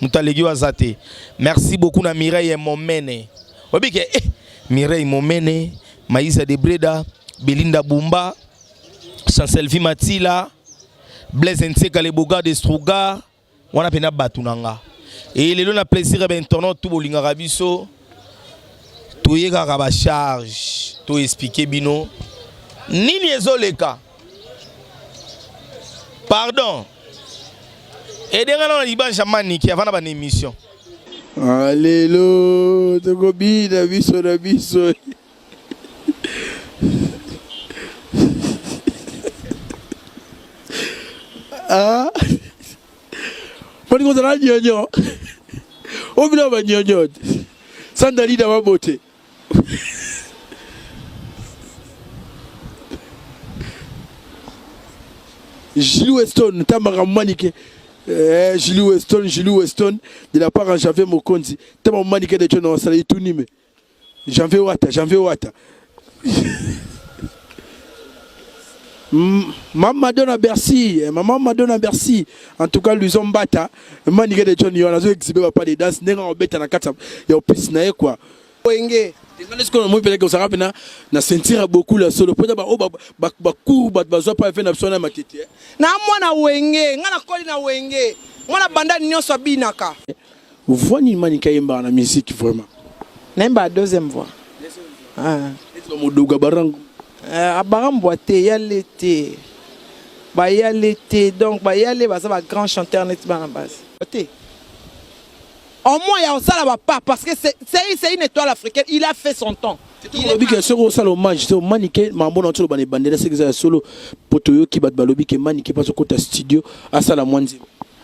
Moto aleki yo aza te. Merci beaucoup na Mireille Momene. Oyebi ke eh, Mireille Momene, Maïsa de Breda, Belinda Bumba, Chancelvi Matila, Blaise Nseka le Boga de Struga, wana pena batu na nga. Et lelo na plaisir ya ba internautes tout bolingaka biso. toye kaka ba charge to expliquer bino nini ezoleka pardon edenga na libanja maniki avant na ba émission ah, lelo tokobina biso na biso ah Moni kozala nyonyo. Obila ba nyonyo. Sanda lida ba bote. Julie Weston, Tamara Manike. Eh, Julie Weston, Julie Weston, de la part à Javier Mokonzi. Tamara Manike de Tchon, on s'en est tout nimé. Janvier Wata, Janvier Wata. Maman Madonna Bercy, eh, maman Madonna Bercy. En tout cas, Luzon Bata, Manigé de John Yon, azo exhibé papa des danses, nenga on beta na katsa, ya opis na ye quoi. Wenge. Ngana siko na moi peleke osaka pena na sentir beaucoup la solo. Pota ba o ba ba ba cour ba ba zo pa fe na biso na matete. Na mwana wenge, ngana koli na wenge. Mwana banda nionso abinaka. Voix nini Manicke ayembaka na musique vraiment? Nayembaka deuxième voix. Ah. Neti ba Modoga Barangu. Euh, abarambwa te yale te bayale te donc bayale baza ba grand chanteur neti bana basi te au moins ya kosala bapa parce que c'est une étoile africaine il a fait son temps olobi ke soki osala hommage te omani ke mambo na oyo tolobana ebandela soki eza ya solo mpo toyoki bato balobi ke mani ke mpo azokota studio asala mwa nzembo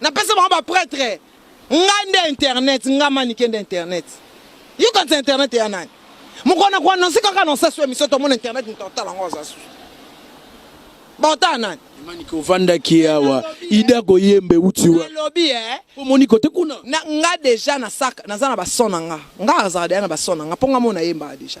napesa bango ba pretre ngai nde internet ngai manike nde internet yo kanisa internet ya nani mokolo na koanonse kaka na osasu emission tomona internet moto akotala yango aza susu baotala nani manike ovandaki awa ida koyembe uti walobi eh? omoni kote kuna nga deja nasaka naza na bason na nga nga azala deja na bason na nga mpo nga mo nayembaka deja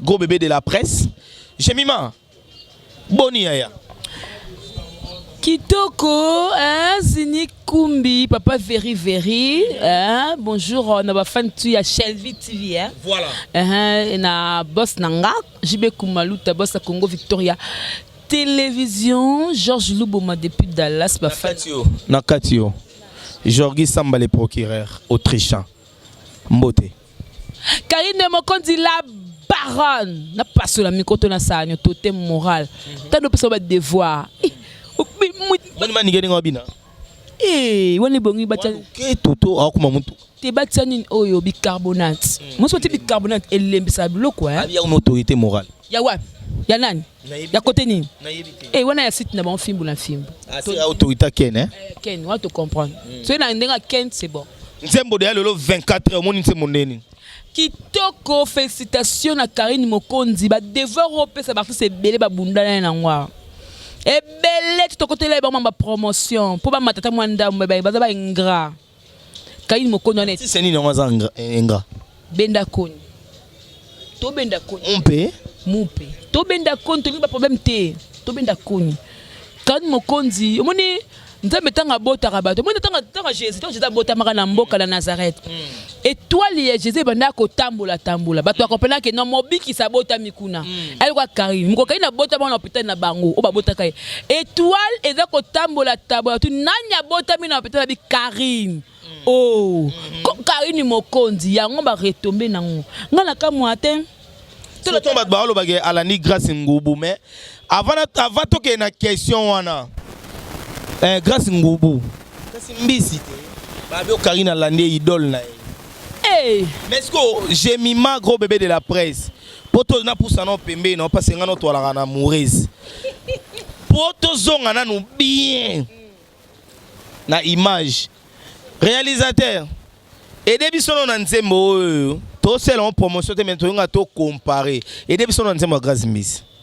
Gros bébé de la presse. Jemima, boni yaya. Kitoko, hein, Zini Kumbi, Papa Veri Veri, hein, bonjour, on a fan tu ya Shelby TV, hein. Voilà. Hein, na boss nanga, JB Kumaluta, boss à Congo Victoria. Télévision, Georges Luboma depuis Dallas, ba fan. Nakatio, Nakatio. Jorgi Samba le procureur autrichien. Mbote. Karine Mokonzi la baronne na pasola mikoto na sanyo totem moral tando pesa ba devoir eh, bani mani ngeni ngabina eh wani bongi bacha ke toto akuma mutu te bacha nini oyo bicarbonate hmm. moso ti bicarbonate elembisa biloko eh ya une autorité morale Ya wapi? Ya nani? Ya kote nini? Eh, wana ya site na bango fimbu na fimbu. Ah, c'est autorité Ken hein? Eh, Ken, on te comprendre. Hmm. Soki na ndenge Ken, c'est bon. Nzembo de ya lelo 24 omoni nzembo ndeni? Kitoko, félicitations na Karine Mokonzi. Ba devoir opesa baartiste ebele babunda na ye nango awa. Ebele tokotela ye bango ma promotion mpo bamatata mwa ndambo baza ba ingrat. Kaini mokoni wana. Artiste nini yango aza engra? Benda koni. To benda koni. Mpe mupe to benda koni tolingi ba problème te to benda koni kani mokonzi omoni nzambe ntango abotaka bato omoni ntango ntango jésus ntango jésus abotamaka na mboka na nazareth mm. etoile ya jésus ebandaka kotambola tambola bato bakomprenaka ke no mobikisi abotami kuna mm. ayoka karine mokokai na botama na hôpital na bango oyo babotaka ye Etoile eza kotambola tambola tu nani abotami na hôpital abi Carine. Mm. Oh, mm. ko Carine mokonzi yango ba retomber nango. Nga na kamwa te. Surtout bato balobaki alandi Grace Ngubu mais avant avant tokende na question wana. Eh, Grace Ngubu. Kasi mbisi te. Babi o Carine alandi idole na ye. Hey. Mais est-ce que Gemima gros bébé de la presse Poto na pusa na pembeni na pasi nga no twalaka na Murezi. Poto zonga nanu bien na image. Réalisateur, aidez biso no na nzembo oyo. To sela en promotion te mais to nga to comparer. Aidez biso na nzembo ya Grace Mbisi.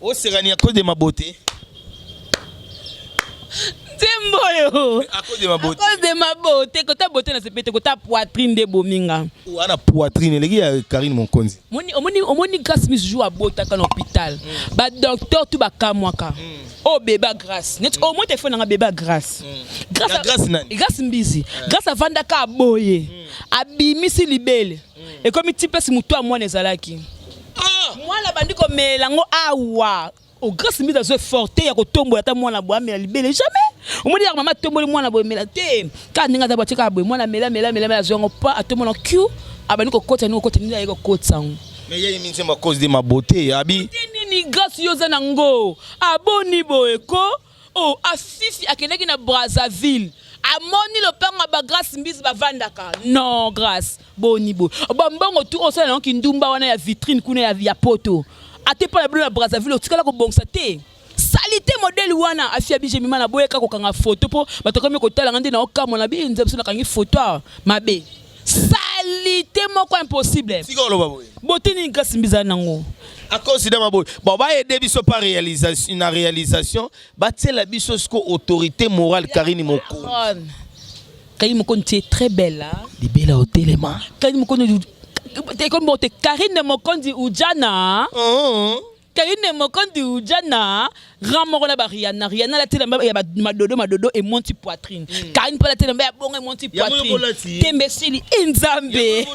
Oseka ni akode mabote. Nzembo oyo. Akode mabote. Akode mabote kota bote na sepete kota poitrine de bominga. Wana poitrine eleki ya Karine Monkonzi. Moni omoni omoni grâce misu jour abotaka na hôpital. Mm. Ba docteur tu ba kamwaka. Mm. Oh bébé grâce. Net mm. au moins téléphone na bébé grâce. Mm. Grâce à grâce nani? Grâce mbizi. Yeah. Grâce à Vandaka aboye. Mm. Abimisi libele. ekomi ti place moto ya mwana ezalaki ah! mwana abandi komela yango awa o grace mbiza azwi forte ya kotombola ata mwana boye amela libele jamais omoni yaka mama atomboli mwana boye mela te kaka ndenge aza bati kaka boye mwana mela mela mela azwi yango pa atombola q abandi kokota yango kokota nini aye kokotisa yango mais yeye minzemba cause de ma beauté abi nini grace yo oza na ngo aboni boye ko Oh a fifi akendaki na Brazzaville amoni lopango ya ba Grace Mbizi bavandaka non Grace boni bo ba mbongo tu osala nango kindumba wana ya vitrine kuna ya, ya poto ate mpo na bino na Brazzaville otikala kobongisa te salite modele wana afia bije mima na boyeka kokanga foto mpo bato akomi kotala nga nde na okamwa na bino nzambe biso nakangi foto awa mabe salite moko impossible sika oloba boye botini nkasi mbizali nango akonsidere maboye bon bayede biso pa réalisation na réalisation batiela biso siko autorité morale karine moko karine moko ntie très belle libela otelema karine moko ekomi bote karine mokonzi ujana uh oh. -huh. Kayine Mokondi uja na grand moko na ba Rihanna Rihanna la telamba ya madodo madodo et monti poitrine mm. Kayine pala telamba ya bongo et monti poitrine tembe sili inzambe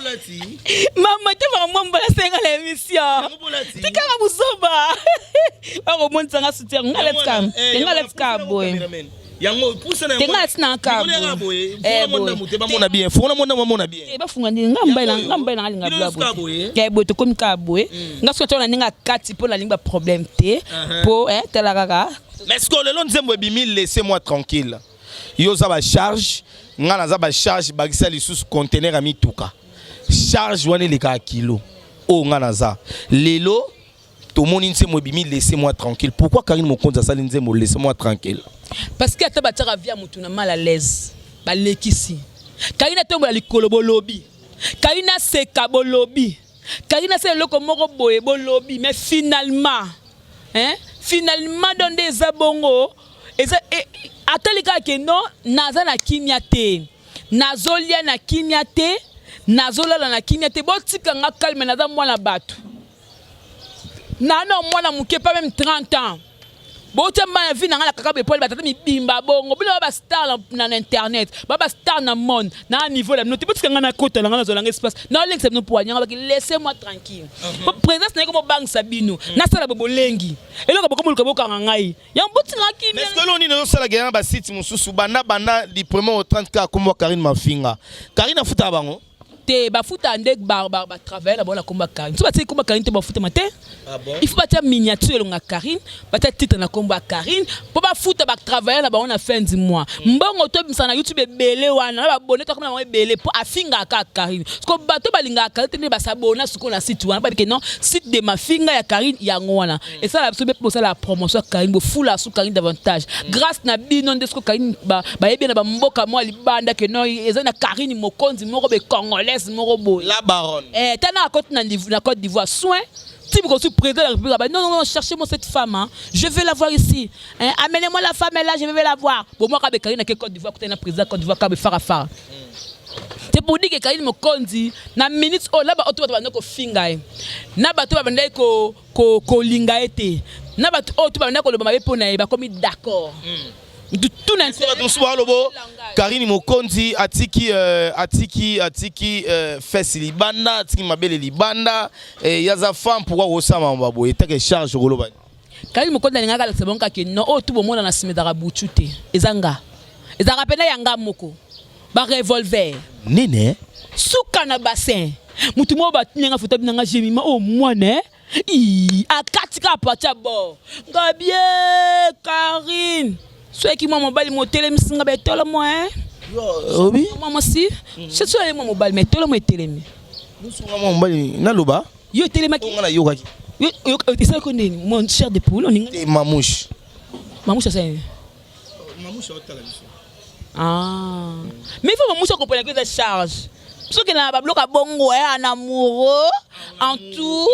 mama te mama mwa mbala senga la émission tika ka buzoba bako monisa nga soutien nga let's come nga let's come boy yango pusa na yango tenga tina ka ngole nga boye eh, fona mona mute ba mona bien fona mona ba mona bien eh ba funga ndinga nga mbaila nga mbaila nga linga bla boye ya boye to komi ka boye mm. nga soto na ninga kati po na linga problème te uh-huh. po eh tala kaka mais ce que lelo nzembo ebimi laissez moi tranquille yo za ba charge nga naza ba charge bakisa lisusu conteneur ya mituka charge wana elekaka kilo oyo nga naza lelo tomoni nzembo ebimi laisse moi tranquille pourquoi karine mokonzi asali nzembo laisse moi tranquille parce que ata batiaka vie ya motu na mal à l'aise balekisi karine atombola likolo bolobi karine aseka bolobi karine asala eloko moko boye bolobi mais finalement hein? finalement don nde eza bongo eza e, atali kaka ke non naza na kimia te nazolia na kimia te nazolala na kimia te botika nga kalme naza mwana bato nano mwana moke pa meme 30 ans botya mba na vie na ngai na kaka bepole batata mibimba bongo bino ba bastar na internet ba bastar na monde na niveau na bino te botika ngai nakota na ngai nazwa nanga espace naolengisa bino poani yango baki laisse moi tranquille mhm. po présence na ye komobangisa bino mhm. nasala bobolengi eloko bokomoluka bokanga ngai yango botika kimelo nini ozosalaka yana basite mosusu banda banda du premier au 30 ka akomwa karine mafinga karine afutaka bango te bafuta nde barbare ba travailler na bango na komba Karine so batie komba Karine te bafutama te ah il faut batia miniature elonga Karine batia titre na kombo ya Karine mpo bafuta ba travailler na bango na fin du mois mm. mbongo tobimisa na YouTube ebele wana na babone tokoma na bango ebele mpo afingaka kaka Karine siko bato balingaka Karine te nde basabona sikoyo na site wana babike non site de mafinga ya Karine yango wana Et ça, c'est pour ça la promotion Karim, pour fou la sous Karim davantage. Mm. Grâce na bino, de ce que Karim, bah, bah, eh bien, bah, mboka moi, les bandes que non, ils ont na Karim, mokonzi, moro, be congolaise, moro, bo. La baronne. Eh, t'as na côte na la Côte d'Ivoire, soin. Si vous êtes président de la République, bah, non, non, non, cherchez-moi cette femme, hein. je vais la voir ici. Hein. Amenez-moi la femme, elle là, je vais la voir. Bon, moi, Kabe Karim, na Côte d'Ivoire, côté na président Côte d'Ivoire, Kabe Farah Farah. te bodike kaini mokonzi na minute oyo na baoto bato bandaki kofinga ye na bato babandaki ko kolinga ye te na bato oyo to babanda koloba mabe mpo na ye bakomi d'accord mm. tuna nse bato mosusu balobo karine mokonzi atiki euh, atiki atiki euh, fesi libanda atiki mabele libanda eh, ye aza femme pourkui kosama maba boye etake charge okoloba karine mokonzi alingaka alakisa bango kake no oyo tu bomona na nsima ezalaka butu te eza nga ezalaka mpena ya nga moko ba revolver nene suka na bassin mutu moko batuni nga foto abinanga jemima o oh, mwana eh? akati kaka pati ya bor ngabie karine soki mwa mobali motelemisi nga betolo mwa eh? obi mwa mwasi mm. soki soki mwa mobali ma etolo mwa etelemi mosunga mwa mobali naloba yo etelemaki nga nayokaki esalaki ndeni mon cher de poule oninga mamouche mamouche asali Mamusha otala biso. Ah. Mais faut mamusha comprendre que c'est charge. soki na babiloko ya bongo ya eh, na amoureux en tout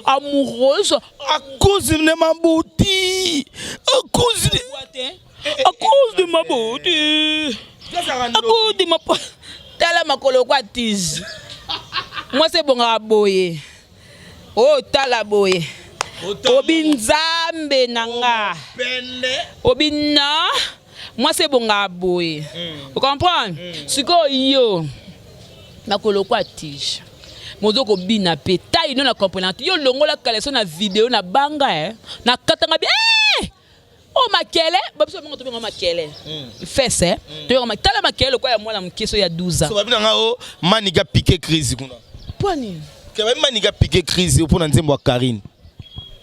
amoureuse à cause de ma beauté à cause de à cause de ma beauté à cause de ma tala makolo kwa tiz mwasi ebongaka boye Oh tala boye obi nzambe na nga obi na mwasi ebongaa boye mm. ocomprendre mm. sikoyo yo nakolokwa tige mozo kobina mpe tai no na comprenante yo longola kaleso na video na banga eh? nakatanga bie eh! o oh, makele babiso babenga tobenga makele hmm. fese eh? hmm. tobenga tala makele lokola ya mwana moke so ya 12 ans babina nga o oh, maniga piqué crise kuna mpo nini kebabi maniga piqué crise mpo na nzembo ya karine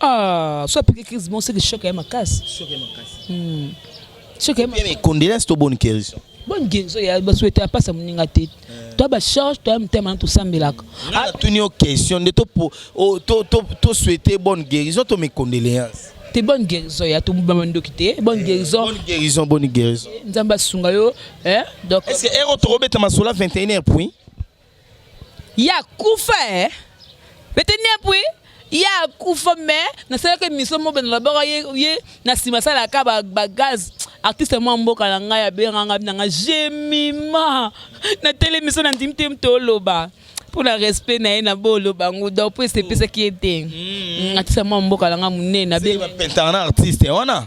ah so piqué crise bon seke choc ya makasi choc ya makasi hmm. choc ya makasi condolence to bonne guérison bonne guérison ya basuete apasa moninga te toi ba charge toi mutema to sambelaka ah tu ni question de to oh, to to to souhaiter bonne guérison to mes condoléances te bonne guérison ya to ba ndoki te bonne eh, guérison bonne guérison bonne guérison eh, nzamba sunga yo hein eh, donc est-ce que ero to robeta masola 21h puis ya kufa hein 21h puis ye akufa mais nasalaka émission mobe nalobaka ye ye na nsima asalaka bagaz artiste mwa mboka na ngai abengaka ngai na ngai jemima natelemi so nandimi te mto oloba mpo na respect na ye na bolo bango donc mpo esepesaki ye te mm. mm, artiste mwa mboka na ngai monene abengapentana na artiste wana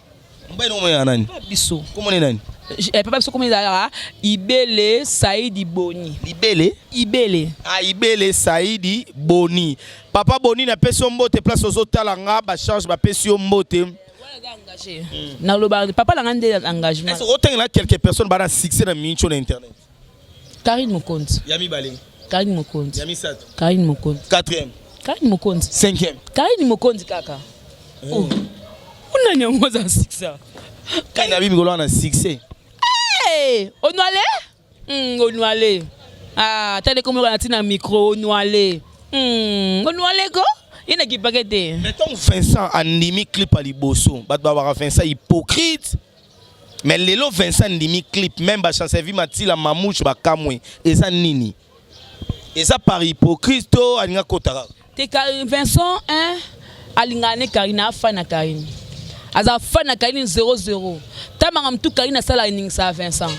Mobali na komona nani? Biso. Komona nani? Eh, papa biso komona ezalaka Ibele Saidi Boni. Ibele? Ibele. Ah, Ibele Saidi Boni. Papa Boni na pesi mbote place ozo tala nga ba charge ba pesi yo mbote. Hmm. Na loba papa na nga nde engagement. Est-ce que otengela quelques personnes ba na succès na mincho na internet? Karine Mokonzi. Ya mibale. Karine Mokonzi. Ya misato. Karine Mokonzi. Quatrième. Karine Mokonzi. Cinquième. Karine Mokonzi kaka. Eh. Oh. Unani yango aza succès. Karine abi mikolo na succès. Eh, onwale? Mm, onwale. Ah, tande comme la tina micro onwale. Mm, onwale ko? Ina ki pakete. Mais ton Vincent andimi clip à liboso. Bat babara Vincent hypocrite. Mais lelo Vincent ndimi clip même ba chance vie matila mamouche ba kamwe eza nini eza par hypocrite to alinga kotaka te Vincent hein alingana ne Karine afa na Karine aza fa na Karine 00 tamanga mtu Karine asala eningisa Vincent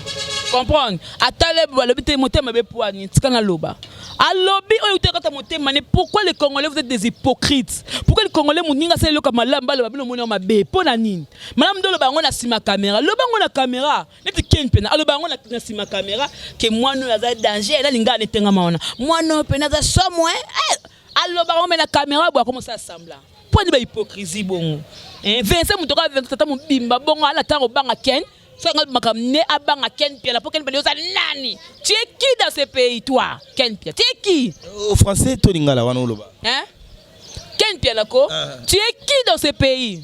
comprendre atale balobi te motema be poani tika na loba alobi oyo utaka kata motema ne pourquoi les congolais vous êtes des hypocrites pourquoi les congolais moninga asala eloko malamu baloba bino omoni yango mabe mpo na nini Madame Dolo bango na sima caméra. Loba bango na caméra. Neti Ken pena aloba bango na, na sima caméra que mwana aza danger na linga ne tenga maona. Mwana pena za somo hein. Eh, aloba bango na caméra bwa comment ça sembla. Pour ni ba hypocrisie bongo. Eh, Vincent mutoka Vincent tata mobimba bongo ala tango banga Ken. Sanga makam ne abanga Ken Pia la pour Ken Pia oza nani? Tu es qui dans ce pays toi? Ken Pia. Tu es qui? Au oh, français to lingala wana oloba. Hein? Ken Pia la ko? Ah. Tu es qui dans ce pays?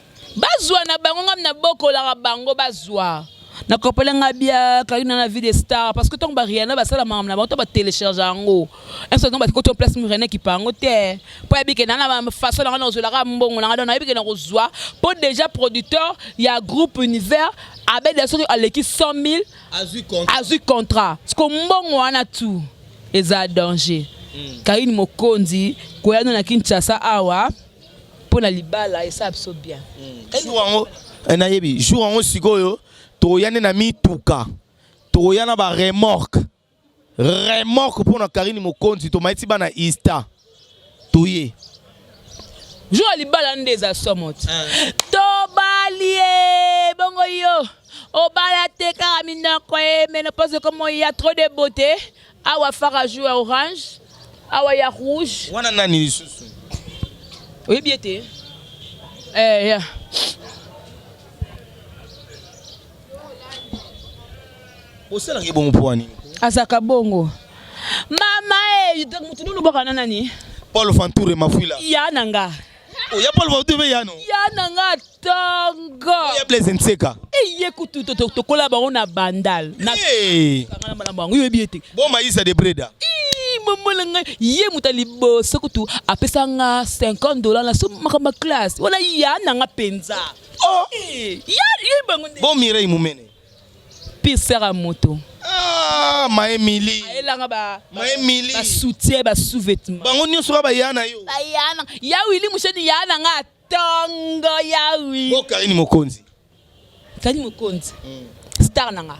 Bazwa na bango ngam na bokolaka bango bazwa. Na kopela nga bia Karina na vie de star parce que tant ba Rihanna ba sala makambo na bango to ba télécharger yango. Un certain nombre ko to place mu Rihanna ki pango te. Po ya bikena na ba façon na nga na kozwela ka mbongo na nga na bikena kozwa po déjà producteur ya groupe univers abeda soki aleki 100.000 azwi contrat. Azwi contrat. Siko mbongo wana tu eza danger. Mm. Karine Mokonzi koyano na Kinshasa awa. pona libala esa biso bien jour yango eh, nayebi jour yango sikoyo tokoya nde na mituka tokoya na ba remorque remorque pona karine mokonzi tomaiti bana ista toye jour ya libala nde eza somo ti eh. tobalie bongo yo obala te kaka minoko ye menopoze komoya trop de beauté Awa fara joue ya orange, awa ya rouge. Wana nani lisusu? Oyebi ete eh ya Osalaki bongo mpo nini? Azaka bongo. Mama eh mutu nunu bokana nani? Paul Fanture Mafuila. Ya nanga. oya paul bautu mpe yano ya na nga tongo ya blaise nseka eye kutu tokola bango na bandal na malambo yango yoyebi ete boma isa de breda momola ngai ye moto ya liboso kutu apesa nga 50 dollars na so makambo ya classe wana ya na nga mpenza oh. eh, ya ye bango bo mirei momene Pire sœur à moto. Ah, ma Emily. Ayelanga ba ma Emily. Ba soutien, ba sous-vêtements. Bango nyoso ba yana yo. Ba yana. Ya Willy Musheni yana nga tongo ya wi. Bo Karine Mokonzi. Karine Mokonzi. Mm. Star nanga.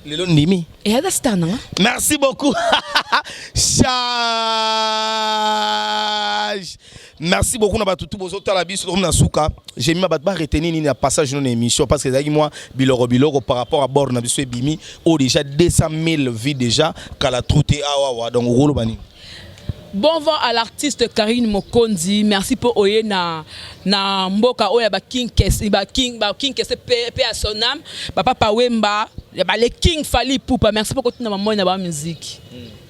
Lelo ndimi. Et ada star nanga. Merci beaucoup. Charge. Merci beaucoup na batu tout bozo tala biso comme na suka. J'ai mis ma ba retenir ni na passage non émission parce que zaki moi biloro biloro par rapport à bord na biso bimi au oh, déjà 200 000 vues déjà kala troute awa ah, wa donc rolo bani. Bon vent à l'artiste Karine Mokondi. Merci pour oye na na mboka oya ba King Kes, ba King ba King Kes pe à son âme. Papa Pawemba, ba les King Fali Poupa. Merci pour kotina maman na ba musique. Mm.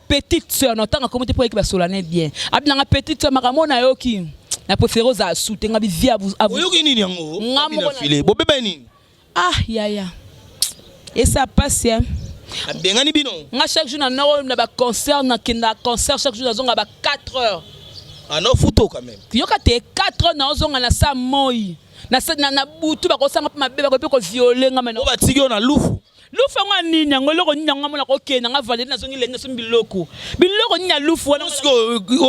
petite sœur na otanga kombo te mpo ayeke basolane bien abi na nga petite sœur makambo na yo ki na préféré ozala su te nga bivi oyoki nini yango nga moko file bobeba ye nini ah yaya esa pasi eh. abengani bino nga chaque jour na noko na baconcert nakenda concert chaque jour nazonga ba 4 heures ano ah, futo quand même yoka te 4 heures naozonga na sa moi na butu bakosanga mpe mabe bakoki mpe koviole nga mena batiki yo na lufu lufu yango ya nini yango eloko nini yango amona kokende nanga valeri nazongi lenge somi biloko biloko nini ya lufu wana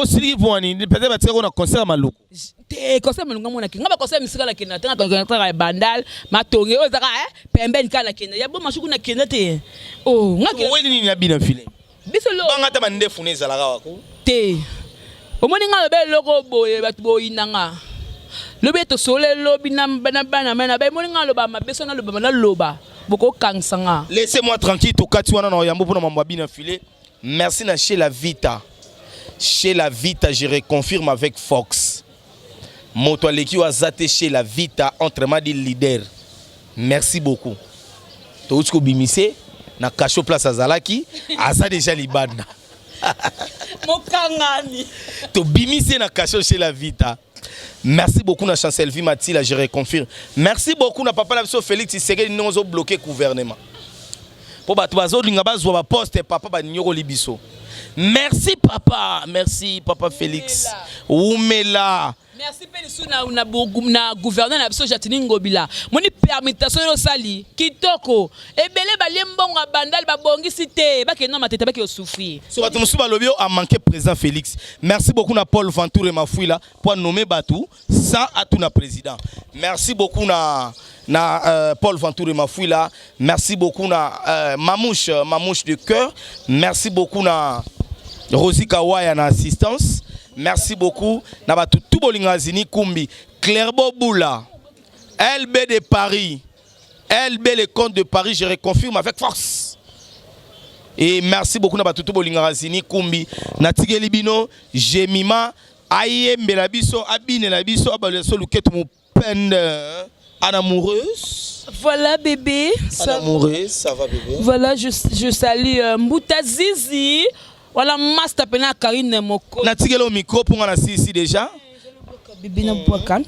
osiliki mpo wani peut-être batikako na concert ya maluku te concert maluku amonaki nga baconcert misika nakenda te nakaka ya bandal matonge oyo ezaka eh, pembeni kaka nakenda ya bo masuku nakenda te oh, oweli nini ya bina file biso lo banga ta bandefu ne ezalaka wako te omoni nga lobe loko boye bato boyina nga lobi ete osole lobi na bana mai na bai moni nga loba mabe so naloba naloba bokokangisa nga laisse moi tranquille tokati wana na oyambo mpo na mambo abina file merci na chez la vita chez la vita je reconfirme avec fox Moto aleki yo aza te chez la vita entre madi leader. Merci beaucoup. Touti ko bimise na cachot place azalaki aza déjà libanda. Mokangani. To bimise na cachot chez la vita. Merci beaucoup na Chancel Vie Matila, je reconfirme. Merci beaucoup na papa na biso Félix Tshisekedi ndongo zo bloquer gouvernement. Po bato bazolinga bazwa ba poste papa baniokoli biso. Merci papa, merci papa Felix. Wumela. Merci pe lisu na na, na gouverneur na biso Jatini Ngobila. Moni permutation yo sali kitoko. Ebele balie mbongo bandal babongisi te, bakende na matete baki osufri. So bato mosusu balobi yo a manquer président Felix. Merci beaucoup na Paul Venture Mafuila po nommer bato sans atuna président merci beaucoup na na euh, Paul Venture Mafuila merci beaucoup na euh, Mamouche euh, Mamouche de cœur merci beaucoup na Rosie Kawaya na assistance merci beaucoup na batu tout bolinga zini kumbi Clairbo Boula LB de Paris LB le compte de Paris je reconfirme avec force et merci beaucoup na batu tout bolinga zini kumbi na tigeli bino Jemima ayembela biso abinela biso abalela so luketu mupende hein. Anne amoureuse. Voilà bébé. Ça... Anne amoureuse, ça va bébé. Voilà, je, je salue euh, Mbuta Zizi. Voilà, master pena Karine Moko. Natigelo micro pour la Sisi déjà. Bébé na boakan.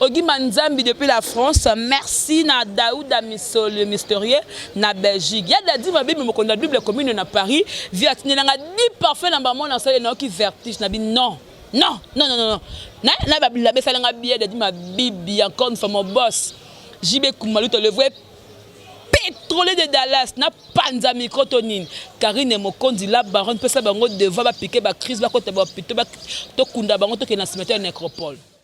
Ogima Nzambi depuis la France, merci na Daouda Miso le mystérieux na Belgique. Ya Dadi ma bibi mokonda la Bible commune na Paris, via tinela nga di parfait na maman na sale na oki vertige na bi non. Non, non, non, non. Na na ba bilabe sala nga biye Dadi ma bibi encore une fois mon boss. JB Kumaluto le vrai pétrolier de Dallas na panza micro to nini Karine Mokonzi la baronne pesa bango devoir ba piquer ba crise ba kota ba pito ba to kunda bango to ke na cimetière nécropole.